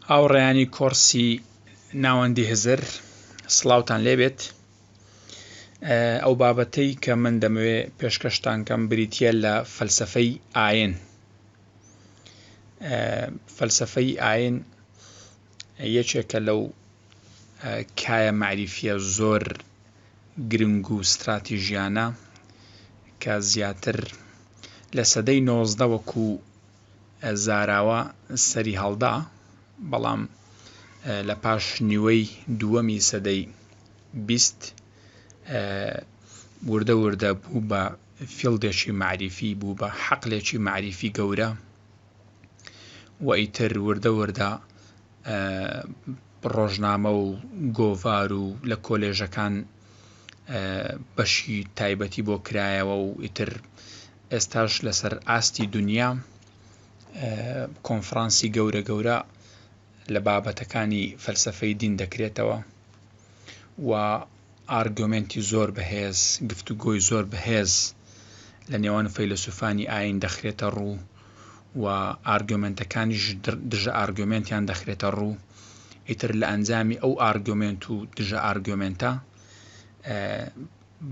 هاوڕێیانی کۆڕسی ناوەندی هزر سڵاوان لێبێت ئەو بابەتەی کە من دەمەوێ پێشکەشتانکەم بریتە لە فەلسفەی ئاین فەلسفەی ئاین یەکێکە لەو کایە مەعریفییە زۆر گرنگ و ستراتیژیانە کە زیاتر لە سەدەی نۆزدە وەکو زاراوە سەریهەڵدا، بەڵام لە پاش نیوەی دووەمی سەدەی بیست وردە وردە بوو بە فیڵدێکی مەعریفی، بوو بە حەقلێکی مەعریفی گەورە. و ئیتر وردە وردە ڕۆژنامە و گۆڤار و لە کۆلێژەکان بەشی تایبەتی بۆ کرایەوە و ئیتر ئێستاش لەسەر ئاستی دنیا کۆنفرانسی گەورە گەورە لە بابەتەکانی فەلسەفەی دین دەکرێتەوە. و ئارگۆمێنتی زۆر بەهێز، گفتوگۆی زۆر بەهێز لە نێوان فەیلەسووفانی ئایین دەخرێتە ڕوو و ئارگۆمێنتەکانیش دژەئارگۆمێنتیان دەخرێتە ڕوو، ئیتر لە ئەنجامی ئەو ئارگۆمێنت و دژەئارگۆمێنتە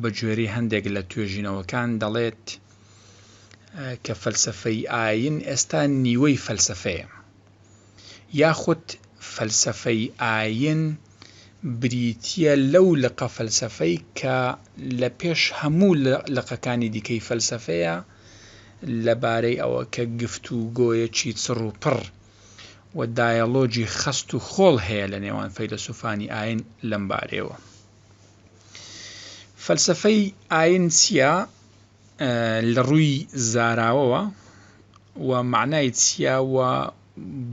بە گوێرەی هەندێک لە توێژینەوەکان دەڵێت کە فەلسەفەی ئایین ئێستا نیوەی فەلسەفەیە. یاخود فەلسەفەی ئایین بریتییە لەو لقە فەلسەفەی کە لە پێش هەموو لقەکانی دیکەی فەلسەفەیە لەبارەی ئەوە کە گفتوگۆیەکی چڕ و پڕ و دایەڵۆگی خەست و خۆڵ هەیە لە نێوان فەیلەسوفانی ئایین لەمبارەیەوە. فەلسەفەی ئایین چییە؟ لەڕووی زاراوەوە و مەعنای چییە و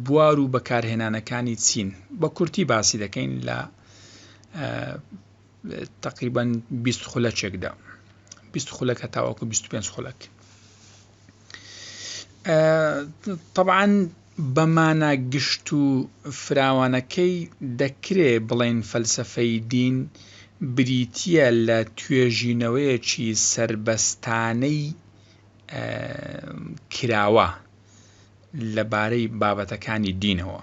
بوار و بەکارهێنانەکانی چین؟ بە کورتی باسی دەکەین لە تەقریبەن بیست خولەکێکدا بیست خولەکە تاوەکو بیست پێنج خولەک طبعا بە مانا گشت و فراوانەکەی دەکرێ بڵێین فەلسەفەی دین بریتییە لە توێژینەوەیەکی سەربەستانەی کراوە لە بارەی بابەتەکانی دینەوە.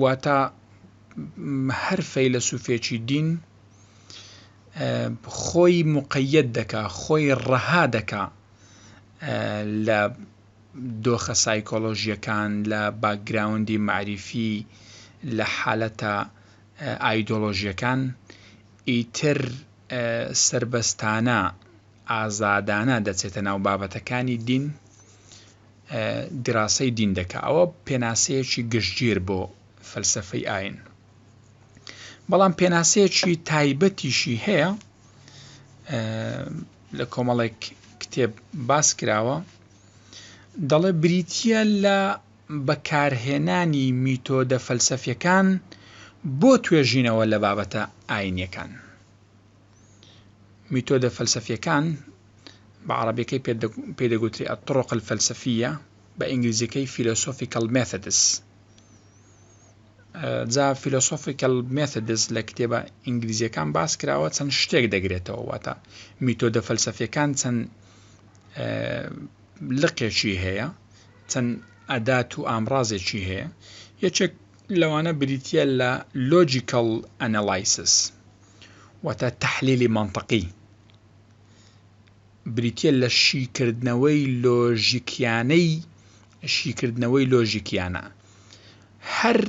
واتە هەر فەیلەسوفێکی دین خۆی مقەیەت دەکا، خۆی ڕەها دەکا لە دۆخە سایکۆلۆژییەکان، لە باکگراوندی مەعریفی، لە حالەتە ئایدۆلۆژییەکان، ئیتر سەربەستانە، ئازادانە دەچێتە ناو بابەتەکانی دین، دیراسەی دین دەکا. ئەوە پێناسەیەکی گشتگیر بۆ فەلسەفەی ئاین. بەڵام پێناسەیەکی تایبەتیشی هەیە لە کۆمەڵێک کتێب باس کراوە دەڵێ بریتە لە بەکارهێنانی میتۆدە فەلسەفیەکان بۆ توێژینەوە لە بابەتە ئاینیەکان میتۆدە فەلسەفیەکان بە عربەکەی پێدەگوتری ئەتڕۆقل فەلسەفیە بە ئینگلیزیەکەی فیلۆسۆفیکەڵ مێثدس جا Philosophical Methods لە کتێبە ئینگلیزیەکان باس کراوە چەند شتێک دەگرێتەوە واتە میتۆدە فەلسەفیەکان چەند لقێکی هەیە چەند ئەدات و ئامرازێکی هەیە یەکێک لەوانە بریتە لە لۆجیکەڵ ئەنەلایسس واتە تحلیلی منطقی بریتییە لە شیکردنەوەی لۆژیکیانەی شیکردنەوەی لۆژیکیانە. هەر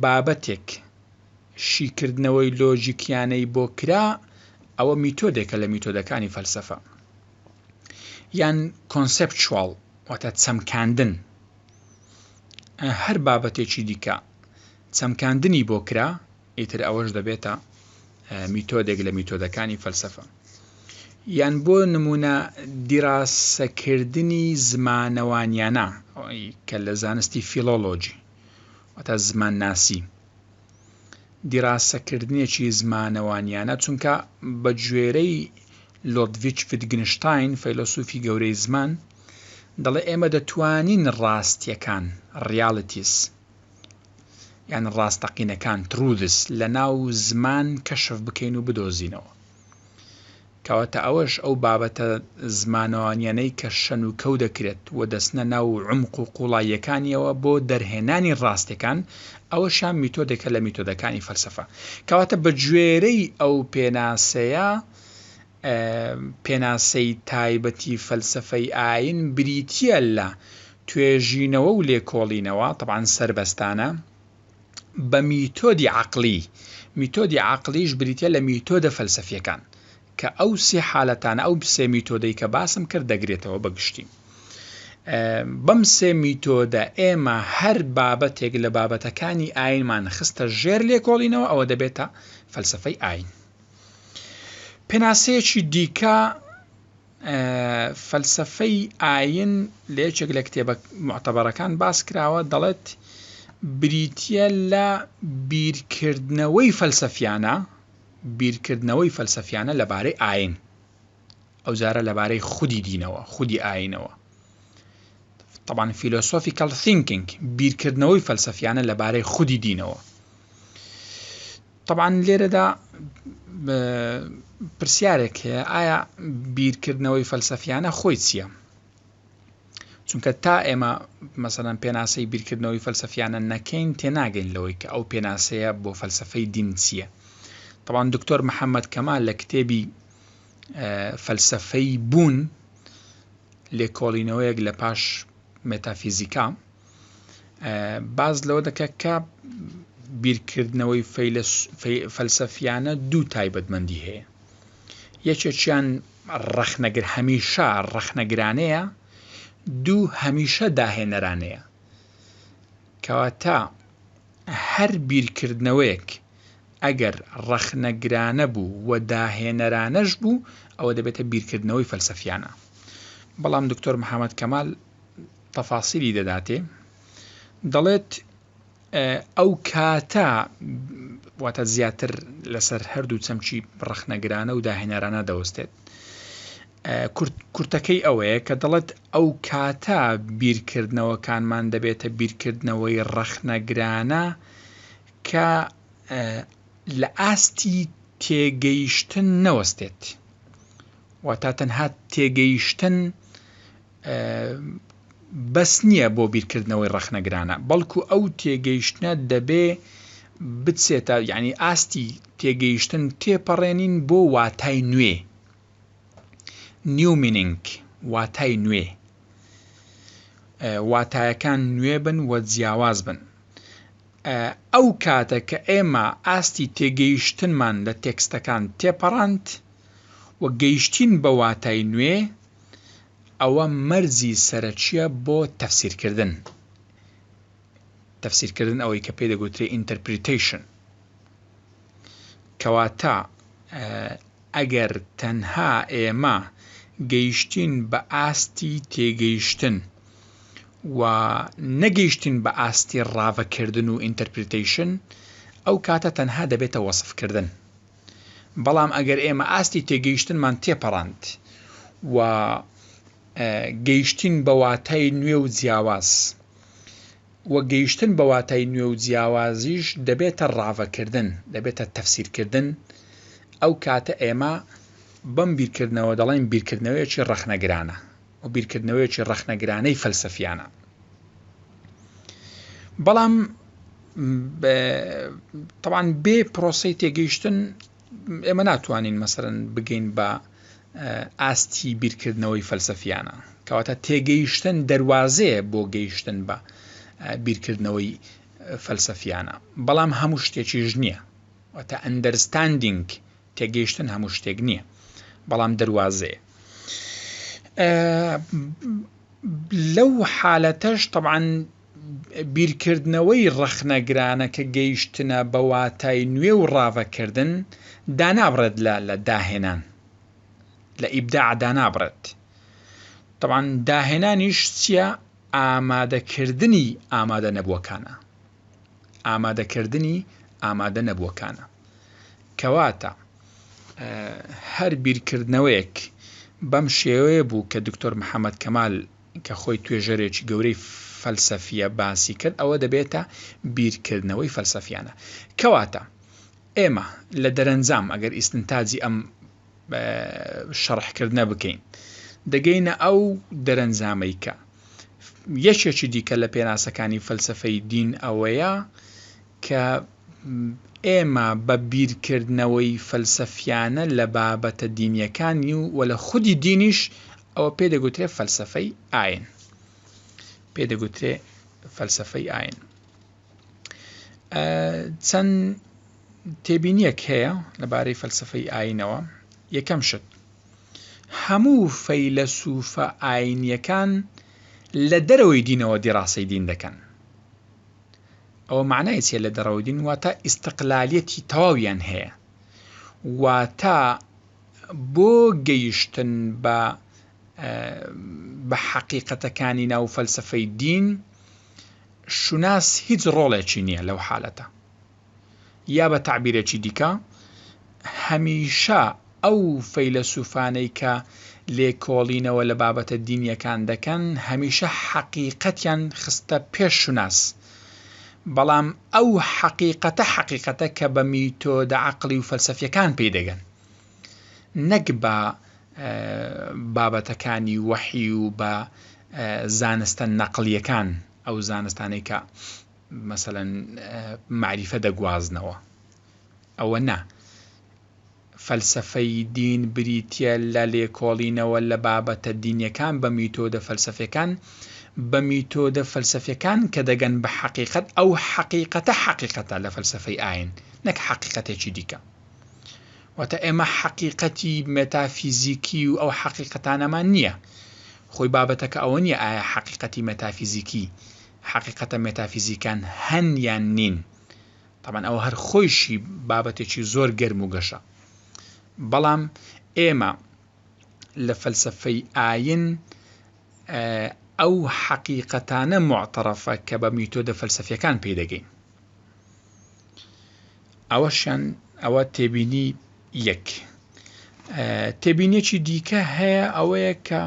بابەتێک شیکردنەوەی لۆژیکیانەی بۆ کرا، ئەوە میتۆدێکە لە میتۆدەکانی فەلسەفە. یان کۆنسێپچواڵ واتە چەمکاندن. هەر بابەتێکی دیکە چەمکاندنی بۆ کرا، ئیتر ئەوەش دەبێتە میتۆدێک لە میتۆدەکانی فەلسەفە یان بۆ نمونە دیراسەکردنی زمانەوانیانە کە لە زانستی فیلۆلۆجی وتا زمان ناسی دیراسەکردنێکی زمانەوانیانە چونکە بە گوێرەی لۆدڤچ فیدگنشتین فەیلۆسوفی گەورەی زمان دەڵێ ئێمە دەتوانین ڕاستیەکان ڕیالیتیس یان ڕاستەقینەکان، Truths، لەناو زمان کەشف بکەین و بدۆزینەوە. کەواتە ئەوەش ئەو بابەتە زمانەوانیانەی کە شەن و کەو دەکرێت و دەچنە ناو عومق و قوڵاییەکانیەوە بۆ دەرهێنانی ڕاستیەکان، ئەوەشیان میتۆدێکە لە میتۆدەکانی فەلسەفە. کەواتە بە گوێرەی ئەو پێناسەیە، پێناسەی تایبەتی فەلسەفەی ئایین بریتییە لە توێژینەوە و لێکۆڵینەوە، تەبعەن سەربەستانە، بە میتۆدی عەقڵی، میتۆدی عەقڵیش بریتییە لە میتۆدە فەلسەفییەکان، کە ئەو سێ حالەتانە، ئەو سێ میتۆدەی کە باسم کرد دەگرێتەوە بە گشتی. بەم سێ میتۆدە ئێمە هەر بابەتێک لە بابەتەکانی ئایینمان خستە ژێر لێکۆڵینەوە ئەوە دەبێتە فەلسەفەی ئایین. پێناسەیەکی دیکە فەلسەفەی ئاین لە یەکێک لە کتێبە معتەبەرەکان باس کراوە دەڵێت بریتە لە بیرکردنەوەی فەلسەفیانە بیرکردنەوەی فەلسەفیانە لەبارەی ئاین ئەو جارە لەبارەی خودی دینەوە خودی ئاینەوە طبعاان فیلۆسۆفی کەڵ ثینکینگ بیرکردنەوەی فەلسەفیانە لەبارەی خودی دینەوە تەبعەن لێرەدا پرسیارێک هەیە ئایا بیرکردنەوەی فەلسەفیانە خۆی چییە؟ چونکە تا ئێمە مەسەەن پێناسەی بیرکردنەوەی فەلسەفیانە نەکەین تێناگەین لەوەی کە ئەو پێناسەیە بۆ فەلسفەی دین چییە طبعاان دکتۆر محەممەد کەما لە کتێبی فەلسفەی بوون لێکۆڵینەوەیەک لە پاش متافیزیکا باس لەوە دەکات کە بیرکردنەوەی فەلسەفیانە دوو تایبەتمەندی هەیە یەکێکیان ڕەخنەگر هەمیشە ڕەخنەگرانەیە دوو هەمیشە داهێنەرانەیە کەواتە هەر بیرکردنەوەیەک ئەگەر ڕەخنەگرانە بوو و داهێنەرانەش بوو ئەوە دەبێتە بیرکردنەوەی فەلسەفیانە بەڵام دکتۆر محەممەد کەمال تەفاسیلی دەداتێ دەڵێت ئەو کاتە واتە زیاتر لەسەر هەردوو چەمچی ڕخنەگرانە و داهێنەرانە دەوەستێت کورتەکەی ئەوەیە کە دەڵێت ئەو کاتە بیرکردنەوەکانمان دەبێتە بیرکردنەوەی ڕەخنەگرانە کە لە ئاستی تێگەیشتن نەوەستێت واتا تەنها تێگەیشتن بەس نییە بۆ بیرکردنەوەی ڕەخنەگرانە، بەڵکو ئەو تێگەیشتنە دەبێ بچێتە، یانی ئاستی تێگەیشتن تێپەڕێنین بۆ واتای نوێ، New Meaning، واتای نوێ، واتایەکان نوێ بن و جیاواز بن. ئەو کاتە کە ئێمە ئاستی تێگەیشتنمان لە تێکستەکان تێپەڕاند و گەیشتین بە واتای نوێ، ئەوە مەرجی سەرەکیە بۆ تەفسیرکردن تەفسیرکردن ئەوەی کە پێ دەگوترێ ئینتەرپریتەیشن کەواتە ئەگەر تەنها ئێمە گەیشتین بە ئاستی تێگەیشتن و نەگەیشتین بە ئاستی ڕاڤەکردن و ئینتەرپریتەیشن ئەو کاتە تەنها دەبێتە وەسفکردن بەڵام ئەگەر ئێمە ئاستی تێگەیشتنمان تێپەڕاند و گەیشتین بە واتای نوێ و جیاواز و گەیشتن بە واتای نوێ و جیاوازیش دەبێتە ڕاڤەکردن دەبێتە تەفسیرکردن ئەو کاتە ئێمە بەم بیرکردنەوە دەڵێن بیرکردنەوەیەکی ڕەخنەگرانە و بیرکردنەوەیەکی ڕەخنەگرانەی فەلسەفیانە بەڵام تەوان بێ پرۆسی تێگەیشتن ئێمە ناتوانین مەسەرن بگەین بە ئاستی بیرکردنەوەی فەلسەفیانە کەواتە تێگەیشتن دەواازەیە بۆ گەیشتن بە بیرکردنەوەی فەلسەفیانە بەڵام هەموو شتێکیش نییە واتە ئەندەرستاندینگ تێگەیشتن هەموو شتێک نییە بەڵام دەروازەیە لەو حالەتەش طبعاً بیرکردنەوەی ڕەخنەگرانە کە گەیشتنە بە واتای نوێ و ڕاڤەکردن دانابڕێت لە لە داهێنان لە ئیبدا دانابڕێت طبعاً داهێنانیش چییە ئامادەکردنی ئامادە نەبووەکانە ئامادەکردنی ئامادە نەبووەکانە. کەواتە هەر بیرکردنەوەیەک بەم شێوەیە بوو کە دکتۆر محەمەد کەمال کە خۆی توێژەرێکی گەورەی فەلسەفییە باسی کرد ئەوە دەبێتە بیرکردنەوەی فەلسەفیانە. کەواتە ئێمە لە دەرەنجام ئەگەر ئیستنتاجی ئەم شەڕحکردنە بکەین دەگەینە ئەو دەرەنجامەی کە یەکێکی دیکە لە پێناسەکانی فەلسەفەی دین ئەوەیە کە ئێمە بە بیرکردنەوەی فەلسەفیانە لە بابەتە دینیەکانی و وە لە خودی دینیش ئەوە پێ دەگوترێ فەلسەفەی ئاین پێ دەگوترێ فەلسەفەی ئاین چەند تێبینیەک هەیە لەبارەی فەلسفەی ئاینەوە یەکەم شت هەموو فەیلەسوفە ئاینیەکان لە دەرەوەی دینەوە دیڕاسەی دین دەکەن ئەوە معنای چێ لە دەڕەوەی دین واتە ئیسقلالەتی تەواویان هەیە واتە بۆ گەیشتن بە بە حەقیقەتەکانی ناو فەلسفەی دین شوناس هیچ ڕۆڵێکی نییە لەو حالەتە. یا بە تەعبیرێکی دیکە، هەمیشە ئەو فەیلەسوفانەی کە لێکۆڵینەوە لە بابەتە دینییەکان دەکەن، هەمیشە حەقیقەتیان خستە پێش شوناس، بەڵام ئەو حەقیقەتە حەقیقەتە کە بە میتۆدە عەقڵی و فەلسەفییەکان پێی دەگەن. نەک بە بابەتەکانی وەحی و بە زانستە نەقڵیەکان ئەو زانستانەی کە مەسەلەن مەعریفە دەگوازنەوە ئەوە نا فەلسەفەی دین بریتیە لە لێکۆڵینەوە لە بابەتە دینیەکان بە میتۆدە فەلسەفەکان بە میتۆدە فەلسەفەکان کە دەگەن بە حەقیقەت ئەو حەقیقەتە حەقیقەتە لە فەلسەفەی ئاین نەک حەقیقەتێکی دیکە واتە ئێمە حەقیقەتی مێتافیزیکی و ئەو حەقیقەتانەمان نییە خۆی بابەتەکە ئەوە نییە ئایا حەقیقەتی مێتافیزیکی حەقیقەتە مێتافیزیکان هەن یان نین تامان ئەوە هەر خۆیشی بابەتێکی زۆر گەرم و گەشە بەڵام ئێمە لە فەلسفەی ئاین ئەو حەقیقەتانە معتەرەفە کە بە میتۆدە فەلسفیەکان پێدەگەین ئەوەشیان ئەوە تێبینی یەک تێبینێکی دیکە هەیە ئەوەیە کە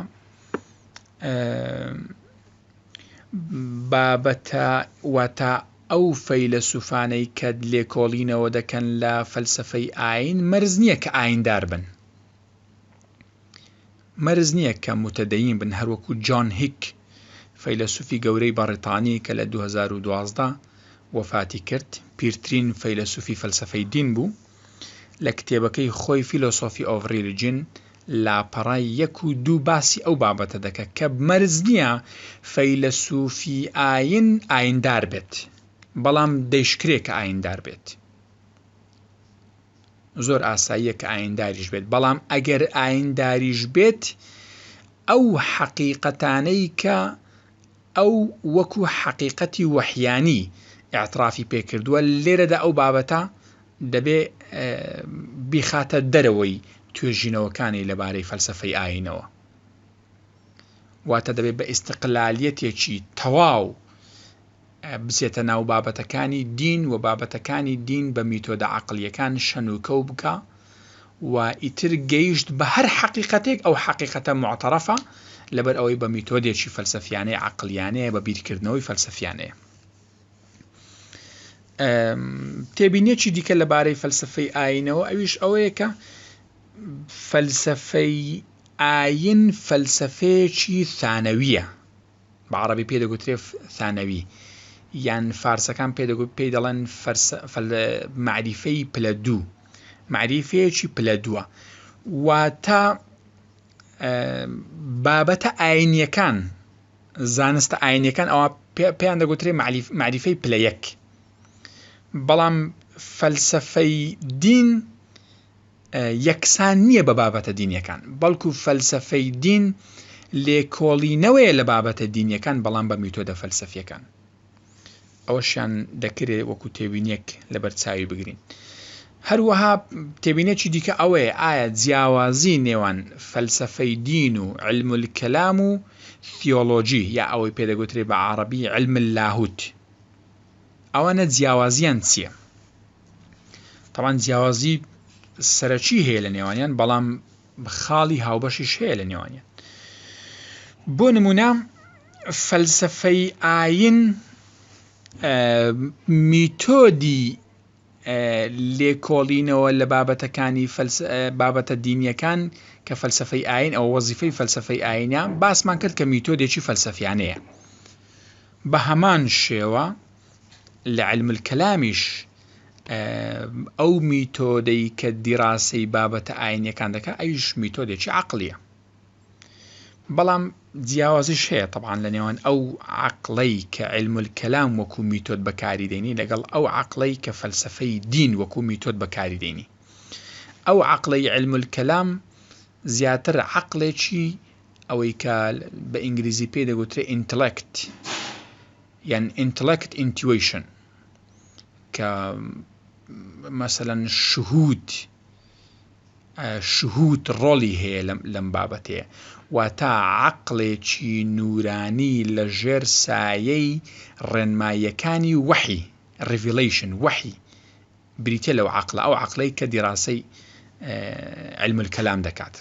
بابەتە واتە ئەو فەیلە سوفانەی کە لێکۆڵینەوە دەکەن لە فەلسفەی ئاین مەرز نییە کە ئایندار بن مەرج نییە کە موتەدەیین بن، هەروەکو جۆن هیک، فەیلەسوفی گەورەی بەڕیتانی کە لە دوو هەزار و دوازدە وەفاتی کرد، پیرترین فەیلەسوفی فەلسەفەی دین بوو، لە کتێبەکەی خۆی Philosophy of Religion لاپەڕەی یەک و دوو باسی ئەو بابەتە دەکات کە مەرج نییە فەیلەسوفی ئایین ئاییندار بێت، بەڵام دەیشکرێ کە ئاییندار بێت. زۆر ئاساییە کە ئاینداریش بێت، بەڵام ئەگەر ئاینداریش بێت ئەو حەقیقەتانەی کە ئەو وەکو حەقیقەتی وەحیانی ئاعترافی پێکردووە لێرەدا ئەو بابەتە دەبێ بیخاتە دەرەوەی توێژینەوەکانی لەبارەی فەلسفەی ئاینەوە واتە دەبێت بە ئیسقلالیەتێکی تەواو بچێتە ناو بابەتەکانی دین و بابەتەکانی دین بە میتۆدە عەقڵیەکان شەنوکەو بکا و ئیتر گەیشت بە هەر حەقیقەتێک ئەو حەقیقەتە موعتەرەفە لەبەر ئەوەی بە میتۆدێکی فەلسەفیانەی عەقڵیانەیە بە بیرکردنەوەی فەلسەفیانەیە تێبینێکی دیکە لەبارەی فەلسفەی ئاینەوە ئەویش ئەوەیە کە فەلسفەی ئاین فەلسفەیەکی ثانەویە بە عەڕەبی پێی دەگوترێ ثانەوی یان فارسەکان پێ دەگوت پێی دەڵێن مەعریفەی پلە دوو مەعریفەیەکی پلە دووە واتە بابەتە ئاینیەکان زانستە ئاینەکان ئەوە پێیان دەگوترێ معریفەی پلە یەک بەڵام فەلسفەی دین یەکسان نییە بە بابەتە دینیەکان، بەڵکو فەلسەفەی دین لێکۆڵینەوەیە لە بابەتە دینیەکان بەڵام بە میتۆدە فەلسەفیەکان. ئەوەشیان دەکرێ وەکو تێبینیەک لەبەرچاوی بگرین. هەروەها تێبینێکی دیکە ئەوەیە ئایا جیاوازی نێوان فەلسەفەی دین و علم الکلام و ثیۆلۆجی یا ئەوەی پێ دەگوترێ بە عەڕەبی علم اللاهوت ئەوانە جیاوازیان چییە؟ تەبعەن جیاوازی سەرەکی هەیە لە نێوانیان بەڵام خاڵی هاوبەشیش هەیە لە نێوانیان بۆ نمونە فەلسفەی ئاین میتۆدی لێکۆڵینەوە لە بابەتەکانی بابەتە دینیەکان کە فەلسفەی ئاین ئەو وەزیفەی فەلسفەی ئاینە باسمان کرد کە میتۆدێکی فەلسفیانەیە بە هەمان شێوە لە علم الکلامیش ئەو میتۆدەی کە دیراسەی بابەتە ئاینیەکان دەکە ئەویش میتۆدێکی عقلیە بەڵام جیاوازیش هەیە طبعاان لە نێوان ئەو عقلەی کە علم الکەلام وەکو میتۆد بەکاری دێنی لەگەڵ ئەو عقلەی کە فەلسفەی دین وەکو میتۆد بەکاری دێنی ئەو عقلەی علم الکەلام زیاتر عقلێکی ئەوەی کە بە ئینگلیزی پێ دەگوترێ ئینتلکت یان ئینتڵێکت ئینتیوەیشن کە مەسەلەن شهود شهود ڕۆڵی هەیە لەم بابەتەیە واتا عەقڵێکی نورانی لە ژێر سایەی ڕێنماییەکانی وەحی ڕیڤیلەیشن وەحی بریتیە لەو عەقڵە ئەو عەقڵەی کە دیڕاسەی علم الکلام دەکات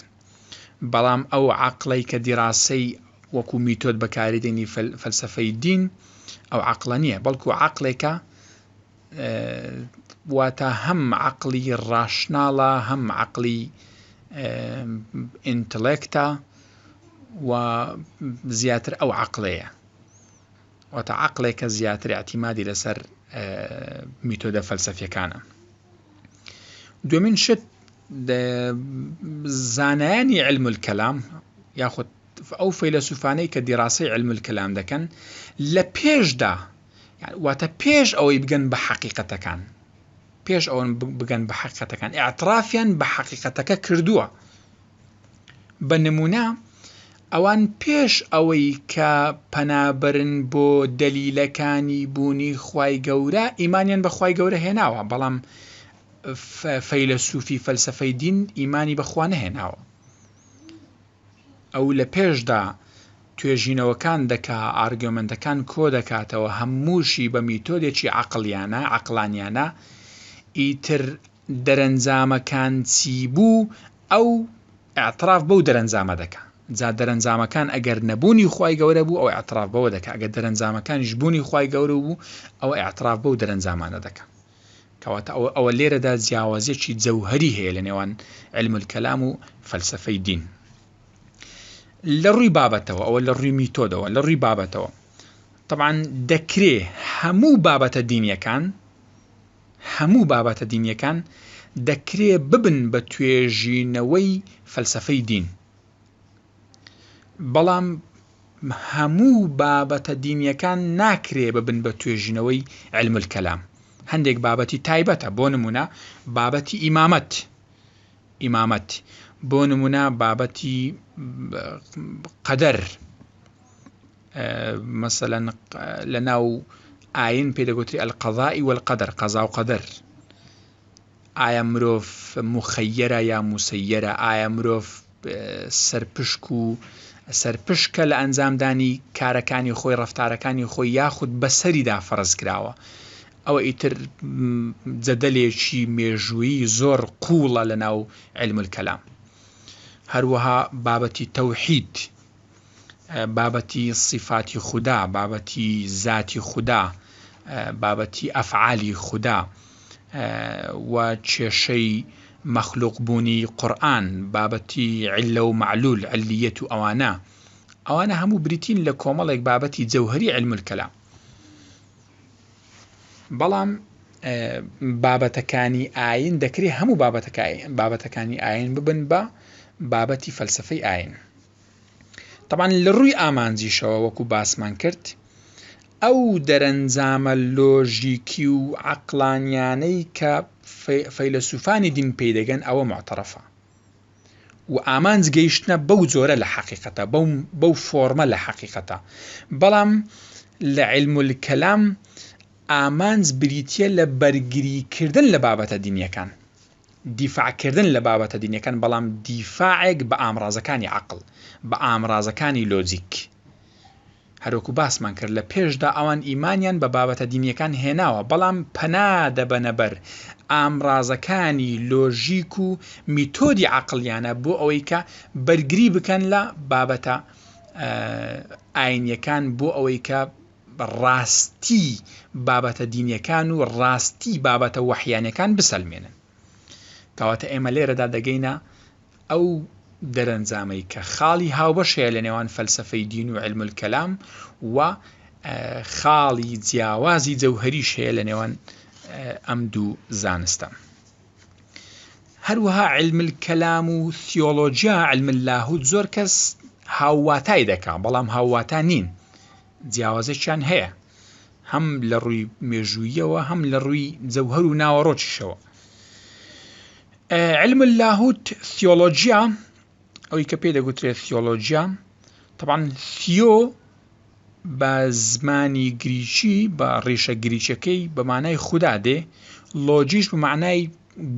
بەڵام ئەو عەقڵەی کە دیڕاسەی وەکو میتۆد بەکاری دێنی فەلسفەی دین ئەو عەقڵە نییە بەڵکو عەقلێکە واتە هەم عقلی ڕاشناڵە هەم عقلی ئینتلێکتا و زیاتر ئەو عقلەیە واتە عەقڵێک کە زیاتر ئەعتیمادی لەسەر میتۆدە فەلسەفیەکانە دومین شت زانایانی علم الکەلام یاخود ئەو فەیلەسوفانەی کە دیڕاسەی علم الکەلام دەکەن لە پێشدا واتە پێش ئەوەی بگەن بە حەقیقەتەکان پێش ئەوەن بگەن بە حەقەتەکان ئاعترافیان بە حەقیقەتەکە کردووە بە نموونە ئەوان پێش ئەوەی کە پەنابەرن بۆ دەلیلەکانی بوونی خوای گەورە ئیمانیان بە خوای گەورە هێناوە بەڵام فەیلەسوفی فەلسەفەی دین ئیمانی بە خوا نەهێناوە ئەو لە پێشدا توێژینەوەکان دەکا ئارگۆمێنتەکان کۆ دەکاتەوە هەمووشی بە میتۆدێکی عەقڵیانە عەقڵانیانە ئیتر دەرەنجامەکان چی بوو ئەو اعتراف بەو دەرەنجامە دەکا جا دەرەنجامەکان ئەگەر نەبوونی خوای گەورە بوو ئەو اعتراف بەوە دەکا ئەگەر دەرەنجامەکانیش بوونی خوای گەورە بوو ئەوە اعتراف بەو دەرەنجامانە دەکا کەواتە ئەوە ئەوە لێرەدا جیاوازیەکی جەوهەری هەیە لە نێوان علم الکەلام و فەلسفەی دین لە ڕووی بابەتەوە ئەوە لە ڕووی میتۆدەوە لە ڕووی بابەتەوە طبعا دەکرێ هەموو بابەتە دینیەکان هەموو بابەتە دینیەکان دەکرێ ببن بە توێژینەوەی فەلسەفەی دین بەڵام هەموو بابەتە دینیەکان ناکرێ ببن بە توێژینەوەی علم الکەلام هەندێک بابەتی تایبەتە بۆ نمونە بابەتی ئیمامەت ئیمامەت بۆ نمونە بابەتی قەدەر مەسەلەن لە ناو ئاین پێی دەگوتری ئەلقەزائی وەلقەدەر قەزا و قەدەر ئایا مرۆڤ مخەیەرە یا موسەیەرە ئایا مرۆڤ سەرپشک و سەرپشکە لە ئەنجامدانی کارەکانی خۆی ڕفتارەکانی خۆی یاخود بەسەریدا فەرز کراوە ئەوە ئیتر جەدەلێکی مێژووی زۆر قوڵە لە ناو علمل کەلام هەروەها بابەتی تەوحید بابەتی سیفاتی خودا، بابەتی زاتی خودا، بابەتی ئەفعالی خودا و کێشەی مەخلوق بوونی قورئان، بابەتی علە و معلول، علیەت و ئەوانە، ئەوانە هەموو بریتین لە کۆمەڵێک بابەتی جەوهەری علم الکلام. بەڵام بابەتەکانی ئاین دەکرێت هەموو بابەتەکانی بابەتەکانی ئاین ببن بە بابەتی فەلسفەی ئاین. تەبعەن لە ڕووی ئامانجیشەوە وەکو باسمان کرد ئەو دەرەنجامە لۆژیکی و عەقڵانیانەی کە فەیلەسوفانی دین پێی دەگەن ئەوە معتەڕەفە و ئامانج گەیشتنە بەو جۆرە لە حەقیقەتە بەو فۆرمە لە حەقیقەتە بەڵام لە علم کەلام ئامانج بریتە لە بەرگریکردن لە بابەتە دینیەکان دیفاع کردن لە بابەتە دینیەکان بەڵام دیفاعێک بە ئامڕازەکانی عەقڵ بە ئامڕازەکانی لۆجیک هەروەکو باسمان کرد لە پێشدا ئەوان ئیمانیان بە بابەتە دینیەکان هێناوە بەڵام پەنا دەبەنە بەر ئامڕازەکانی لۆژیک و میتۆدی عەقڵیانە بۆ ئەوەی کە بەرگری بکەن لە بابەتە ئاینیەکان بۆ ئەوەی کە ڕاستی بابەتە دینیەکان و ڕاستی بابەتە وەحیانەکان بسەلمێنن کەواتە ئێمە لێرەدا دەگەینە ئەو دەرەنجامەی کە خاڵی هاوبەش هەیە لە نێوان فەلسفەی دین و علم الکەلام و خاڵی جیاوازی جەوهریش هەیە لە نێوان ئەم دوو زانستە. هەروەها علم الکلام و ثیۆلۆجیا، علم اللاهوت، زۆر کەس هاوواتای دەکا، بەڵام هاوواتا نین، جیاوازێکیان هەیە، هەم لە ڕووی مێژووییەوە، هەم لە ڕووی جەوهەر و ناوەڕۆکیشەوە. علم اللاهوت، ثیۆلۆجیا، ئەوەی کە پێی دەگوترێ ثیۆلۆجیا، تەبعەن ثیۆ، بە زمانی گریکی بە ڕیشە گریکیەکەی بە مانای خودا دێ، لۆجیش بە مانای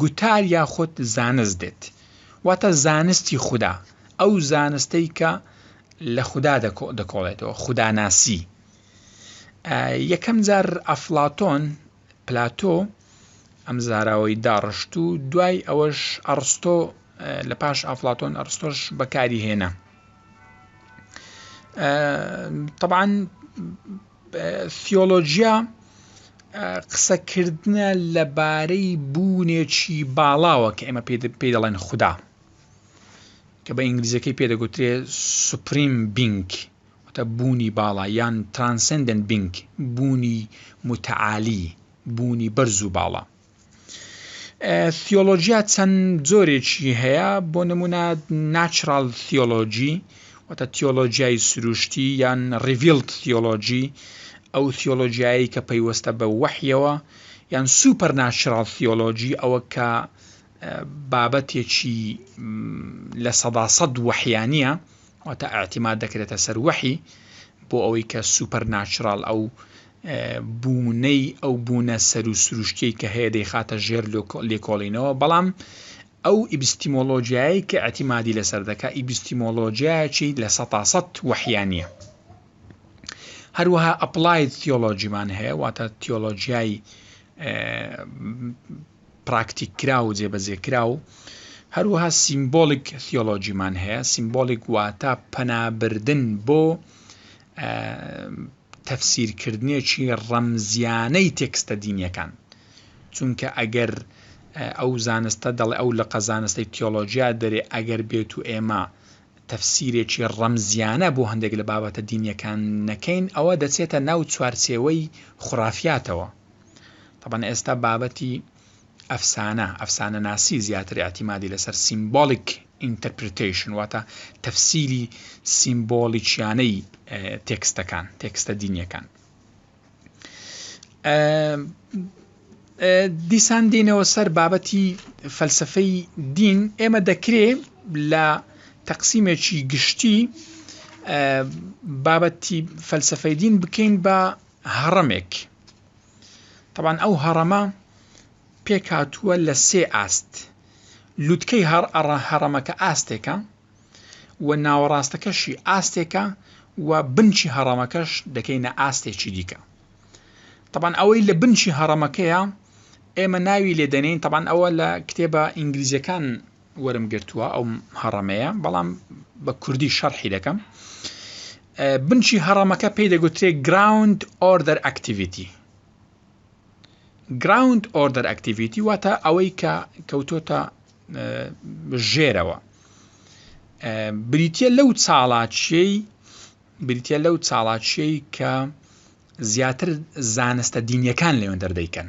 گوتار یاخود زانست دێت واتە زانستی خودا، ئەو زانستەی کە لە خودا دەکۆڵێتەوە، خوداناسی. یەکەم جار ئەفلاتۆن پلاتۆ ئەم زاراوەی داڕشت و دوای ئەوەش ئەڕستۆ لە پاش ئافلاتۆن ئەڕستۆش بەکاری هێنا طبعاان سیۆلۆجیا قسەکردە لەبارەی بوونێکی باڵاوە کە ئێمە پێ دەڵێن خوددا کە بە ئینگلیزەکەی پێدەگوترێ سوپریم بینک واتە بوونی باڵا یان Transcendent Being، بوونی موتەعالی، بوونی بەرز و باڵا. ثیۆلۆجیا چەند جۆرێکی هەیە، بۆ نموونە Natural Theology، واتە تیۆلۆجیای سروشتی یان Revealed Theology، ئەو ثیۆلۆجیایەی کە پەیوەستە بە وەحیەوە، یان Supernatural Theology، ئەوە کە بابەتێکی لە سەدا سەد وەحیانییە، واتە ئیعتیماد دەکرێتە سەر وەحی بۆ ئەوەی کە سوپەر ناچراڵ ئەو بوونەی ئەو بوونە سەر و سروشتیەی کە هەیە دەیخاتە ژێر لێکۆڵینەوە بەڵام ئەو ئیبستیمۆلۆژیایی کە ئەتیمادی لەسەر دەکا ئیبستیمۆلۆژیایکی لە سەتاسەد وەحیانە هەروەها ئەپلایت تیۆلۆژیمان هەیە واتە تیۆلۆژیای پراکتیککراو و جێبەجێکراو، هەروەها سیمبۆلیک ثیۆلۆجیمان هەیە، سیمبۆلیک واتە پەنابردن بۆ تەفسیرکردنێکی ڕەمزییانەی تێکستە دینییەکان، چونکە ئەگەر ئەو زانستە دەڵێ ئەو لقە زانستەی تیۆلۆجیا دەرێ ئەگەر بێت و ئێمە تەفسیرێکی ڕەمزیانە بۆ هەندێک لە بابەتە دینیەکان نەکەین ئەوە دەچێتە ناو چوارچێوەی خورافاتەوە تەبەن ئێستا بابەتی ئەفسانە ئەفسانە ناسی زیاتر ئاعتیمادی لەسەر سیمبۆلیک ئینتەرپریتیشن واتە تەفسیری سیمبۆلیچیانەی تێکستەکان تێکستە دینیەکان دیسان دینەوە سەر بابەتی فەلسفەی دین ئێمە دەکرێ لە تەقسیمێکی گشتی بابەتی فەلسفەی دین بکەین بە هەڕەمێک تەبعەن ئەو هەڕەمە پێکهاتووە لە سێ ئاست لوتکەی هەڕ ئەڕە هەڕەمەکە ئاستێکە و ناوەڕاستەکەشی ئاستێکە و بنچی هەڕەمەکەش دەکەینە ئاستێکی دیکە تەبان ئەوەی لە بنچی هەڕەمەکەیە ئێمە ناوی لێدەنین تەبان ئەوە لە کتێبە ئینگلیزیەکان وەرم گرتووە ئەو هەڕەمەیە بەڵام بە کوردی شەرحی دەکەم بنچی هەڕەمەکە پێی دەگوترێ گراوند ئۆردەر ئەکتیڤیتی گراوند ئۆردەر ئەکتیڤیتی واتە ئەوەی کە کەوتۆتە ژێرەوە بریتە لەو چاڵاچیەی بریتە لەو چاڵاچیەی کە زیاتر زانستە دینیەکان لەوێن دەردەیکەن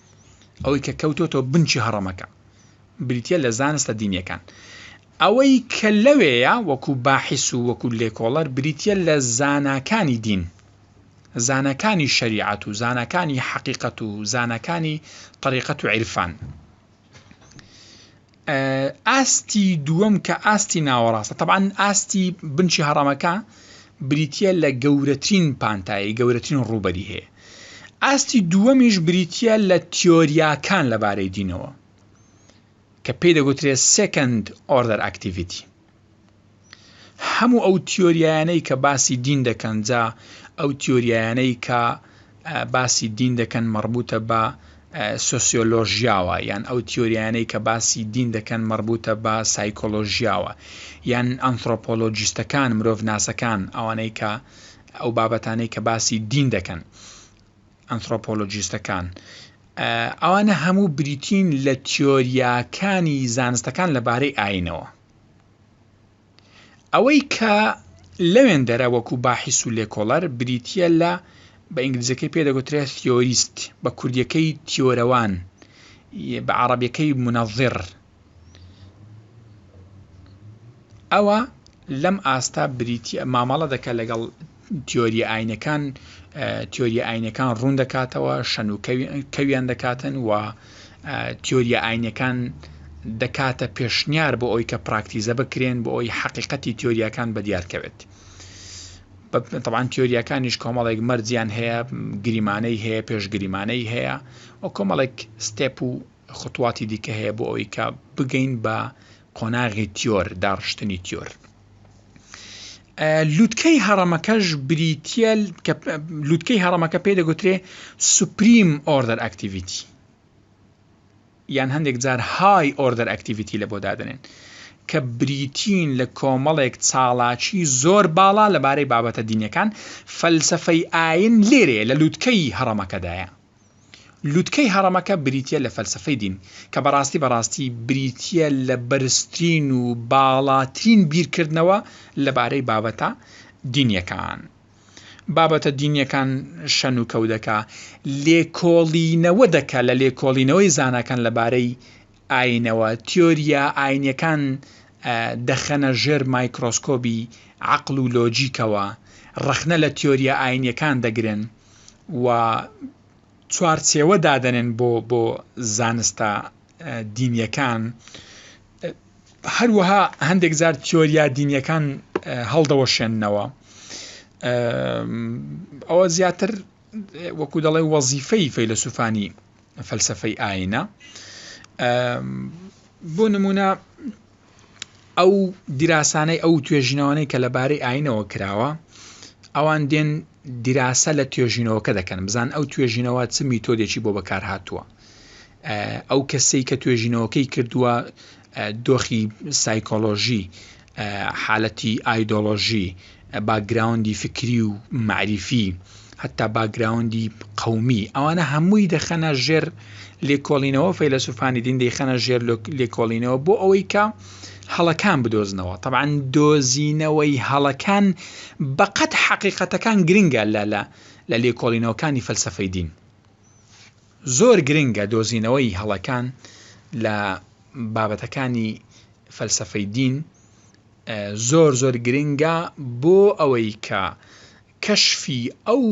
ئەوەی کە کەوتۆتەوە بنچی هەڕەمەکە بریتە لە زانستە دینیەکان ئەوەی کە لەوەیە وەکو باحس و وەکو لێکۆڵەر بریتە لە زاناکانی دین زانەکانی شریعەت و زانەکانی حەقیقەت و زانەکانی طریقەت و عیرفان ئاستی دووەم کە ئاستی ناوەڕاستە تەبان ئاستی بنچی هەڕەمەکە بریتە لە گەورەترین پانتایی گەورەترین ڕوبەری هەیە ئاستی دووەمیش بریتە لە تیۆریاکان لەبارەی دینەوە کە پێی دەگوترێت سکند ئۆردەر ئەکتیڤیتی هەموو ئەو تیۆریایانەی کە باسی دین دەکەن جا ئەو تیۆریایانەی کە باسی دین دەکەن مەڕبوتە بە سۆسیۆلۆژیاوە یان ئەو تیۆریانەی کە باسی دین دەکەن مەڕبوتە بە سایکۆلۆژیاوە یان ئەنتۆپۆلۆجیستەکان مرۆڤ ناسەکان ئەوانەی کە ئەو بابەتانەی کە باسی دین دەکەن ئەنتۆپۆلۆجیستەکان ئەوانە هەموو بریتین لە تیۆریاکانی زانستەکان لەبارەی ئاینەوە ئەوەی کە لەوێندەرە وەکوو باحیس و لێکۆڵەر بریتییە لە، بە ئینگلیزییەکەی پێ دەگوترێ Theorist، بە کوردییەکەی تیۆرەوان، بە عەڕەبییەکەی منظر، ئەوا لەم ئاستە بریتییە مامەڵە دەکا لەگەڵ تیۆرییە ئاینەکان تیۆرییە ئاینەکان ڕوون دەکاتەوە شەن و کەویان دەکاتن و تیۆریە ئاینەکان دەکاتە پێشنیار بۆ ئەوی کە پراکتیزە بکرێن بۆ ئەوی حقیقەتی تیۆریەکان بە دیارکەوێت طبعاان تیۆریەکانیش کۆمەڵێک مەرجیان هەیە گریمانەی هەیە پێشگریمانەی هەیە و کۆمەڵێک ستێپ و خطواتی دیکە هەیە بۆ ئەوی کە بگەین بە قۆناغی تیۆر داڕشتنی تیۆر لوتکەی هەڕەمەکەش بریتیە لوتکەی هەڕەمەکە پێ دەگوترێ سوپریم ئۆردەر ئەکتیڤیتی یان هەندێک جار های ئۆردەر ئەکتیڤیتی لە بۆ دادنێن کە بریتین لە کۆمەڵێک چاڵاکی زۆر باڵا لەبارەی بابەتە دینەکان فەلسفەی ئاین لێرەیە لە لووتکەی هەڕەمەکەدایە لوتکەی هەڕەمەکە بریتیە لە فەلسەفەی دین، کە بەڕاستی بەڕاستی بریتیە لە بەرزترین و باڵاترین بیرکردنەوە لەبارەی بابەتە دینیەکان. بابەتە دینیەکان شەن و کەو دەکا، لێکۆڵینەوە دەکا لە لێکۆڵینەوەی زاناکان لەبارەی ئایینەوە، تیۆرییە ئایینییەکان دەخەنە ژێر مایکرۆسکۆبی عەقڵ و لۆجیکەوە، ڕەخنە لە تیۆرییە ئایینییەکان دەگرن و چوارچێوە دادەنێن بۆ زانستە دینییەکان. هەروەها هەندێک جار تیۆرییە دینییەکان هەڵدەوەشێننەوە. ئەوە زیاتر وەکوو دەڵێ وەزیفەی فەیلەسووفانی فەلسەفەی ئاینە بۆ نمونە ئەو دیراسانەی ئەو توێژینەوانەی کە لەبارەی ئاینەوە کراوە ئەوان دێن دیراسە لە توێژینەوەکە دەکەن بزان ئەو توێژینەوە چ میتۆدێکی بۆ بەکار هاتووە ئەو کەسەی کە توێژینەوەکەی کردووە دۆخی سایکۆلۆژی، حالەتی ئایدۆلۆژی، باکگراوندی فکری و مەعریفی، هەتا باکگراوندی قەومی، ئەوانە هەمووی دەخەنە ژێر لێکۆڵینەوە، فەیلەسوفانی دین دەیخەنە ژێر لێکۆڵینەوە بۆ ئەوەی کە هەڵەکان بدۆزنەوە، تەبعەن دۆزینەوەی هەڵەکان بەقەد حەقیقەتەکان گرنگە لە لێکۆڵینەوەکانی فەلسەفەی دین. زۆر گرنگە دۆزینەوەی هەڵەکان لە بابەتەکانی فەلسەفەی دین زۆر زۆر گرنگە بۆ ئەوەی کە کەشفی ئەو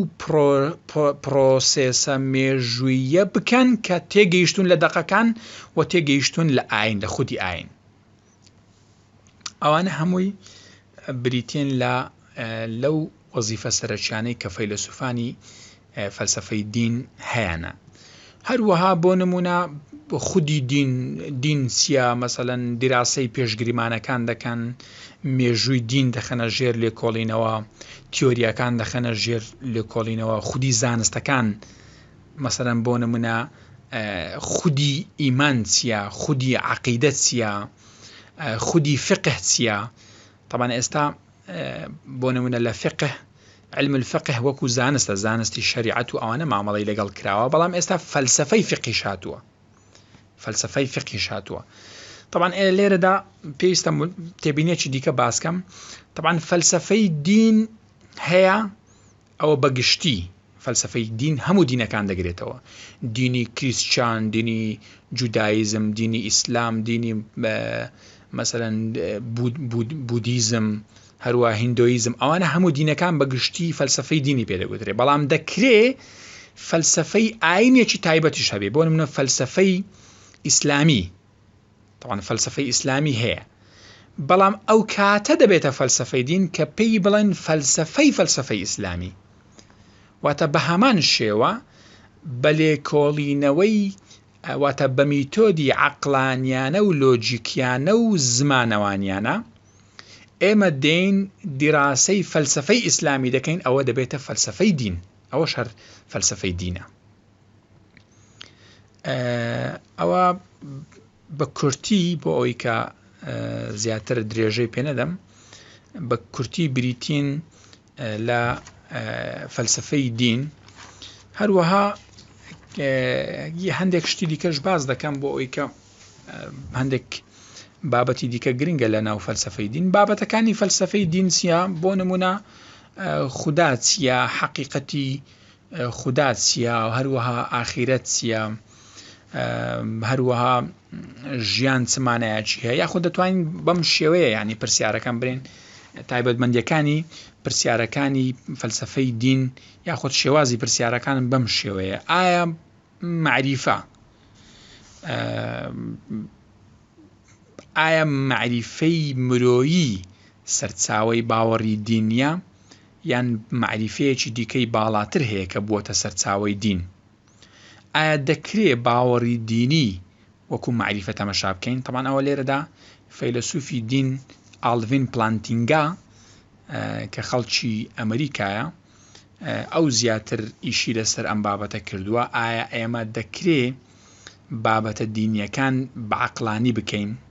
پڕۆسێسە مێژووییە بکەن کە تێگەیشتوون لە دەقەکان و تێگەیشتوون لە ئایین لە خودی ئایین. ئەوانە هەمووی بریتین لە لەو وەزیفە سەرەکیانەی کە فەیلسوفانی فەلسفەی دین هەیەە هەروەها بۆ نمونە خودی دین دین چیە مەسەەن دیراسی پێشگریمانەکان دەکەن مێژووی دین دەخەنە ژێر لێکۆڵینەوە تیۆریەکان دەخەنە ژێر لێکۆڵینەوە خودی زانستەکان مەسەلەن بۆ نمونە خودی ئیمان چیە خودی عقیدە چیە خودی فقه چیە طبعا ئێستا بۆ نمونە لە فقه علم الفقه وەکو زانستە زانستی شریعەت و ئەوانە مامەڵی لەگەڵ کراوە بەڵام ئێستا فەلسفەی فقی شاتووە فەلسفەی فقی شاتووە طبعا لێرەدا پێویستە تێبینێکی دیکە باسکەم طبعا فەلسفەی دین هەیە ئەوە بە گشتی فەلسەفەی دین هەموو دینەکان دەگرێتەوە، دینی کریستچان، دینی جودایزم، دینی ئیسلام، دینی مەسەلەن بودیزم، هەروا هیندۆیزم، ئەوانە هەموو دینەکان بە گشتی فەلسەفەی دینی پێ دەگوترێ، بەڵام دەکرێ فەلسەفەی ئاینێکی تایبەتیش هەبێ، بۆ نمونە فەلسەفەی ئیسلامی تەبعەن فەلسەفەی ئیسلامی هەیە بەڵام ئەو کاتە دەبێتە فەلسەفەی دین کە پێی بڵێن فەلسەفەی فەلسەفەی ئیسلامی واتە بە هەمان شێوە بە لێکۆڵینەوەی واتە بە میتۆدی عەقلانیانە و لۆجیکیانە و زمانەوانیانە ئێمە دێین دیراسەی فەلسفەی ئیسلامی دەکەین ئەوە دەبێتە فەلسفەی دین ئەوە شەر فەلسفەی دینە ئەوە بە کورتی بۆ ئەوی کە زیاتر درێژەی پێ نەدەم بە کورتی بریتین لە فەلسفەی دین هەروەها هەندێک شتی دیکەش باز دەکەم بۆ ئەوی کە هەندێک بابەتی دیکە گرنگە لە ناو فەلسفەی دین بابەتەکانی فەلسفەی دینسیە بۆ نمونە خوددا چییە حەقیقەتی خودا چیە هەروەها ئاخیرەت چیە هەروەها ژیان چ مانایەکی هەیە یاخود دەتوانین بەم شێوەیە ینی پرسیارەکان برێن تایبەتمەندەکانی پرسیارەکانی فەلسفەی دین یاخود شێوازی پرسیارەکانم بەم شێوەیە ئایا معریفە ئایا معریفەی مرۆیی سەرچاوی باوەڕی دینە یان مەعریفەیەکی دیکەی باڵاتر هەیە کە بووەتە سەرچاوەی دین؟ ئایا دەکرێ باوەڕی دینی وەکوو مەعریفە تەمەشا بکەین؟ تەبعەن ئەوە لێرەدا فەیلەسووفی دین ئالڤین پلانتینگا کە خەڵکی ئەمریکایە ئەو زیاتر ئیشی لەسەر ئەم بابەتە کردووە، ئایا ئێمە دەکرێ بابەتە دینییەکان بە عەقلانی بکەین؟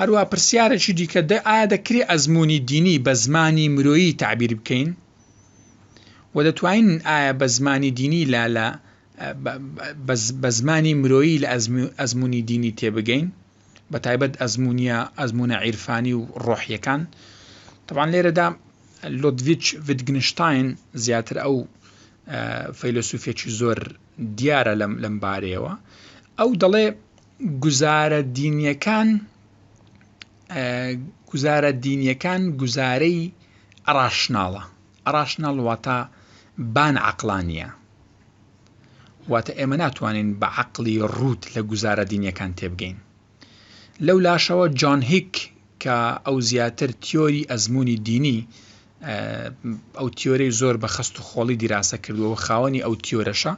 هەروا پرسیارەکی دیکە دە ئایا دەکرێ ئەزموونی دینی بە زمانی مرۆیی تەعبیر بکەین؟ وە دەتوانین ئایا بە زمانی دینی لە لە بە زمانی مرۆیی لە ئەزموونی دینی تێبگەین بە تایبەت ئەزمونیە ئەزمونە عیرفانی و ڕۆحیەکان تەوان لێرەدا لۆدڤچ ڤگنشتاین زیاتر ئەو فەیلسوفێکی زۆر دیارە لەم لەم بارەیەوە ئەو دەڵێ گوزارە دینیەکان گوزارە دینیەکان گوزارەی ڕاشناڵە ڕاشناڵ واتە بان عقلانیە واتە ئێمە ناتوانین بە عقلی ڕووت لە گوزارە دینیەکان تێبگەین لەو لاشەوە جان هیک کە ئەو زیاتر تیۆری ئەزمموی دینی ئەو تیۆرەی زۆر بە خەست و خۆڵی دیراسە کردووە و خاوەنی ئەو تیۆرەشە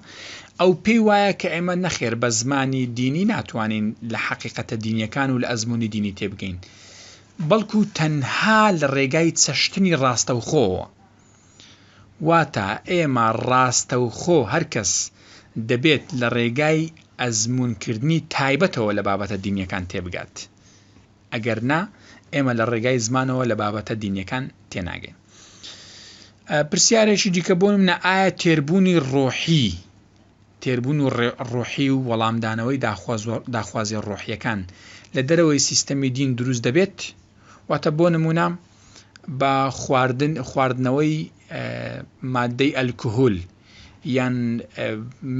ئەو پێی وایە کە ئێمە نەخێر بە زمانی دینی ناتوانین لە حەقیقەتە دینیەکان و لە ئەزمموی دینی تێبگەین بەڵکو تەنها لە ڕێگای چەشتنی ڕاستەوخۆوە واتە ئێمە ڕاستەوخۆ هەرکەس دەبێت لە ڕێگای ئەزمونکردنی تایبەتەوە لە بابەتە دینیەکان تێبگات. ئەگەر نا ئێمە لە ڕێگای زمانەوە لە بابەتە دینیەکان تێناگەین پرسیارێکی دیکە بۆ منە ئایا تێربوونی ڕۆحی تێربوون و ڕۆحی و وەڵامدانەوەی داخوازی ڕۆحیەکان لە دەرەوەی سیستەمی دین دروست دەبێت واتە بۆ نمونە بە خواردن خواردنەوەی مادەی ئەلکهول یان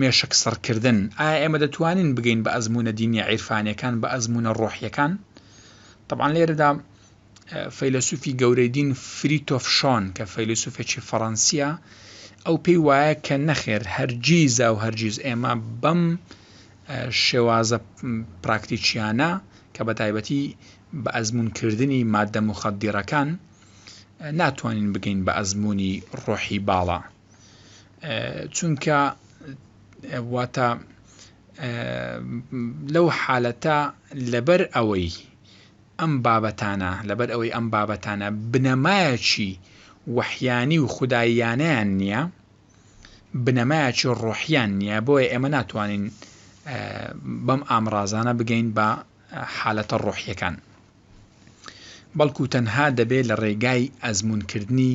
مێشک سڕکردن، ئایا ئێمە دەتوانین بگەین بە ئەزموونە دینیە عیرفانیەکان، بە ئەزموونە ڕۆحیەکان؟ تەبعەن لێرەدا فەیلەسوفی گەورەی دین فریتۆف شۆن کە فەیلەسوفێکی فەڕەنسیە ئەو پێی وایە کە نەخێر هەرگیزا و هەرگیز ئێمە بەم شێوازە پراکتیکیانە کە بە تایبەتی بە ئەزمونکردنی مادە مخدیڕەکان ناتوانین بگەین بە ئەزمموی ڕۆحی باڵا چونکە واتە لەو حالەتە لەبەر ئەوەی ئەم بابەتانە لەبەر ئەوەی ئەم بابەتانە بنەمایەکی وەحیانی و خودداییانیان نییە بنەمایەکی ڕۆحیان نییە بۆیە ئێمە ناتوانین بەم ئامرازانە بگەین بە حالەتە ڕۆحیەکان بەڵکو تەنها دەبێت لە ڕێگای ئەزمونکردنی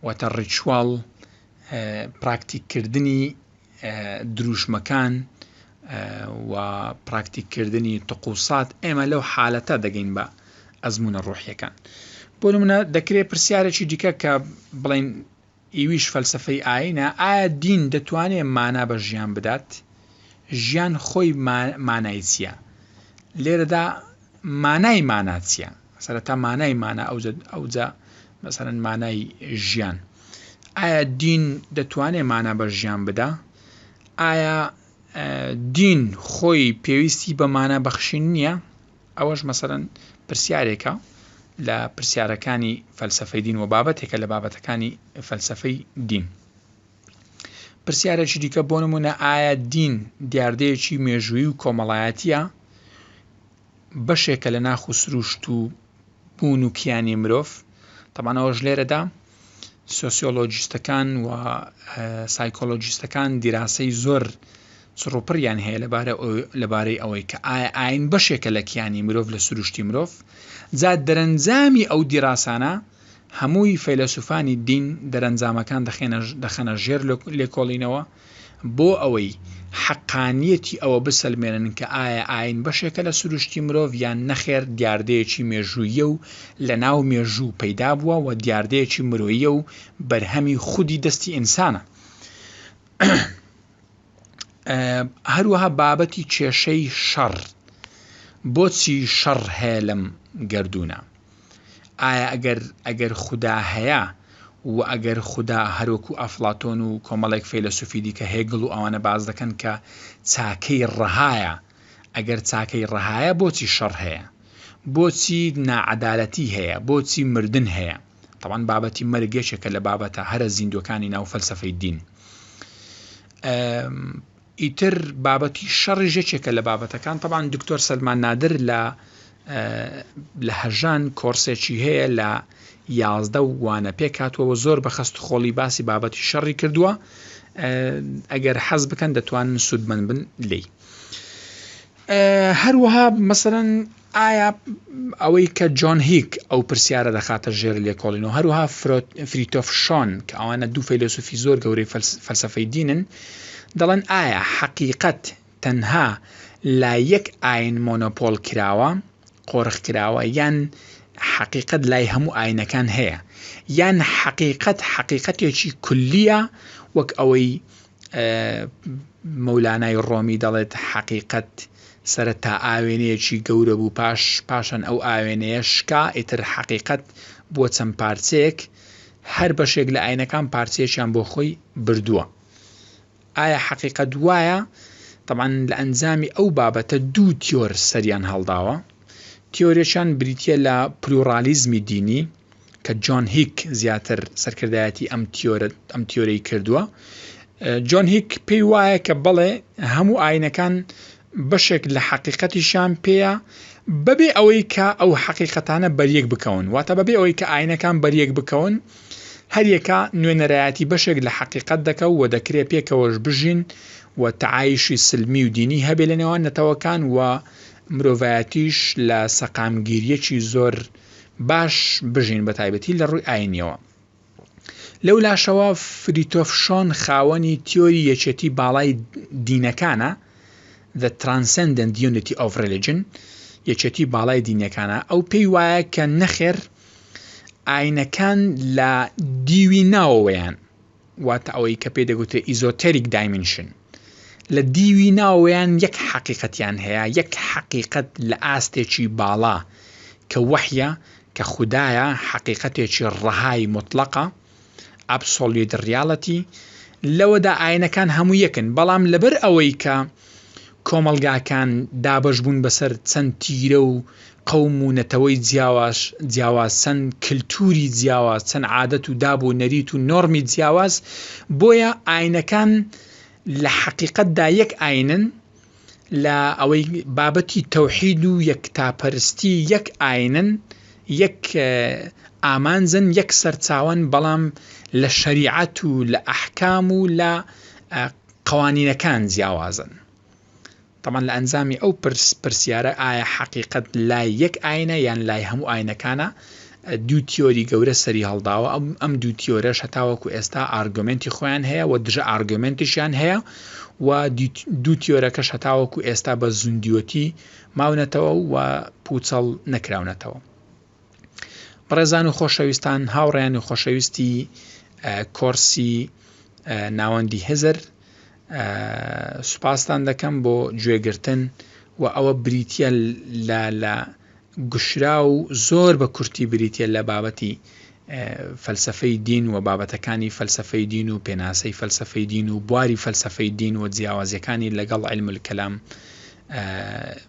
واتە ڕیچواڵ، پراکتیک کردنی دروشمەکان و پراکتیک کردنی تقوسات ئێمە لەو حالەتە دەگەین بە ئەزمونە ڕۆحیەکان بۆ نمونە دەکرێت پرسیارێکی دیکە کە بڵین ئیویش فەلسفەی ئاینە ئایا دین دەتوانێت مانا بە ژیان بدات ژیان خۆی مانای چییە لێرەدا مانای مانا چییە سەرەتا مانای مانا ئەوجا مەسەرەن مانای ژیان ئایا دین دەتوانێت مانا بە ژیان بدا ئایا دین خۆی پێویستی بە مانا بەخشین نییە ئەوەش مەسەرەن پرسیارێکە لە پرسیارەکانی فەلسفەی دین و بابەتێکە لە بابەتەکانی فەلسفەی دین پرسیارێکی دیکە بۆ نمونە ئایا دین دیاردەیەکی مێژووی و کۆمەڵایەتە بەشێکە لە ناخ و سروشت و بوون و کیانی مرۆڤ، تەبعەن ئەوەش لێرەدا سۆسیۆلۆجیستەکان و سایکۆلۆجیستەکان دیراسەی زۆر چڕوپڕیان هەیە لەبارە لەبارەی ئەوەی کە ئایا ئاین بەشێکە لە کیانی مرۆڤ لە سروشتی مرۆڤ، جا دەرەنجامی ئەو دیراسانە هەمووی فەیلەسوفانی دین دەرەنجامەکان دەخێنە دەخەنە ژێر لێکۆڵینەوە، بۆ ئەوەی حەقانییەتی ئەوە بسەلمێنن کە ئایا ئایین بەشێکە لە سروشتی مرۆڤ یان نەخێر دیاردەیەکی مێژووییە و لە ناو مێژوو پەیدا بووە و دیاردەیەکی مرۆییە و بەرهەمی خودی دەستی ئینسانە. هەروەها بابەتی کێشەی شەڕ، بۆچی شەڕ هەیە لەم گەردوونە؟ ئایا ئەگەر ئەگەر خودا هەیە و ئەگەر خودا هەروەکو ئەفڵاتۆن و کۆمەڵێک فەیلەسوفی دیکە هێگڵ و ئەوانە باس دەکەن کە چاکەی ڕەهایە ئەگەر چاکەی ڕەهایە بۆچی شەڕ هەیە بۆچی ناعەدالەتی هەیە بۆچی مردن هەیە تەبعەن بابەتی مەرگ یەکێکە لە بابەتە هەرە زیندووەکانی ناو فەلسەفەی دین ئیتر بابەتی شەڕیش یەکێکە لە بابەتەکان تەبان دکتۆر سەلمان نادر لە لە هەژان کۆرسێکی هەیە لە یازدە و وانە پێک هاتووەوە زۆر بە خەست خۆڵی باسی بابەتی شەڕی کردووە ئەگەر حەز بکەن دەتوانن سوودمەند بن لی هەروەها مەسەلەن ئایا ئەوەی کە جۆن هیک ئەو پرسیارە دەخاتە ژێر لێکۆڵینەوە، هەروەها فریتۆف شۆن کە ئەوانە دوو فەیلەسوفی زۆر گەورەی فەلسەفەی دینن، دەڵێن ئایا حەقیقەت تەنها لە یەک ئاین مۆنۆپۆل کراوە، قۆرخ کراوە، یان حەقیقەت لای هەموو ئاینەکان هەیە، یان حەقیقەت حەقیقەتێکی کولییە وەک ئەوەی مەولانای ڕۆمی دەڵێت، حەقیقەت سەرەتا ئاوێنەیەکی گەورە بوو، پاش پاشان ئەو ئاوێنەیە شکا، ئیتر حەقیقەت بووە چەند پارچەیەک، هەر بەشێک لە ئاینەکان پارچەیەکیان بۆ خۆی بردووە. ئایا حەقیقەت وایە؟ تەبعەن لە ئەنجامی ئەو بابەتە دوو تیۆر سەریان هەڵداوە. تیۆرێکیان بریتییە لە پلورالیزمی دینی، کە جۆن هیک زیاتر سەرکردایەتی ئەم تیۆرە ئەم تیۆرەی کردووە جۆن هیک پێی وایە کە بەڵێ هەموو ئاینەکان بەشێک لە حەقیقەتیشان پێەیە بەبێ ئەوەی کە ئەو حەقیقەتانە بەریەک بکەون واتە بەبێ ئەوەی کە ئاینەکان بەریەک بکەون هەریەکە نوێنەرایەتی بەشێک لە حەقیقەت دەکە و دەکرێت پێکەوەش بژین و تعایشی سلمی و دینی هەبێ لە نێوان نەتەوەکان و مرۆڤایەتیش لە سەقامگیریەکی زۆر باش بژین بە تایبەتی لە ڕووی ئاینیەوە. لەو لاشەوە فریتۆف شۆن خاوەنی تیۆری یەکێتی باڵای دینەکانە The Transcendent Unity of Religion یەکێتی باڵای دینەکانە ئەو پێی وایە کە نەخێر ئاینەکان لە دیوی ناوەوەیان واتە ئەوەی کە پێی دەگوترێ ئیزۆتێریک دایمینشن، لە دیوی ناوەوەیان یەک حەقیقەتیان هەیە، یەک حەقیقەت لە ئاستێکی باڵا کە وەحیە، کە خودایە، حەقیقەتێکی ڕەهای موتڵەقە، Absolute Reality، لەوەدا ئاینەکان هەموو یەکن، بەڵام لەبەر ئەوەی کە کۆمەڵگاکان دابەش بوون بەسەر چەند تیرە و قەوم و نەتەوەی جیاواش جیاواز چەند کلتوری جیاواز چەند عادەت و داب و نەریت و نۆرمی جیاواز بۆیە ئاینەکان لە حەقیقەت دا یەک ئاینن لە ئەوەی بابەتی تەوحید و یەکتاپەرستی یەک ئاینن یەک ئامانجن یەک سەرچاوەن بەڵام لە شەریعەت و لە ئەحکام و لە قەوانینەکان جیاوازن. تەبعەن لە ئەنجامی ئەو پرس پرسیارە ئایا حەقیقەت لای یەک ئاینە یان لای هەموو ئاینەکانە دوو تیۆری گەورە سەری هەڵداوە ئەم ئەم دوو تیۆرەش هەتاوەکو ئێستا ئارگۆمێنتی خۆیان هەیە و دژە ئارگۆمێنتیشیان هەیە و دوو تیۆرەکەش هەتاوەکو ئێستا بە زوندیۆتی ماونەتەوە و پوچەڵ نەکراونەتەوە. بەڕێزان و خۆشەویستان هاوڕێیان و خۆشەویستی کۆرسی ناوەندی هزر سوپاستان دەکەم بۆ گوێگرتن و ئەوە بریتە لە لە گشرا و زۆر بە کورتی بریتە لە بابەتی فەلسفەی دین و بابەتەکانی فەلسفەی دین و پێناسەی فەلسفەی دین و بواری فەلسفەی دین و جیاوازیەکانی لەگەڵ علم کەلام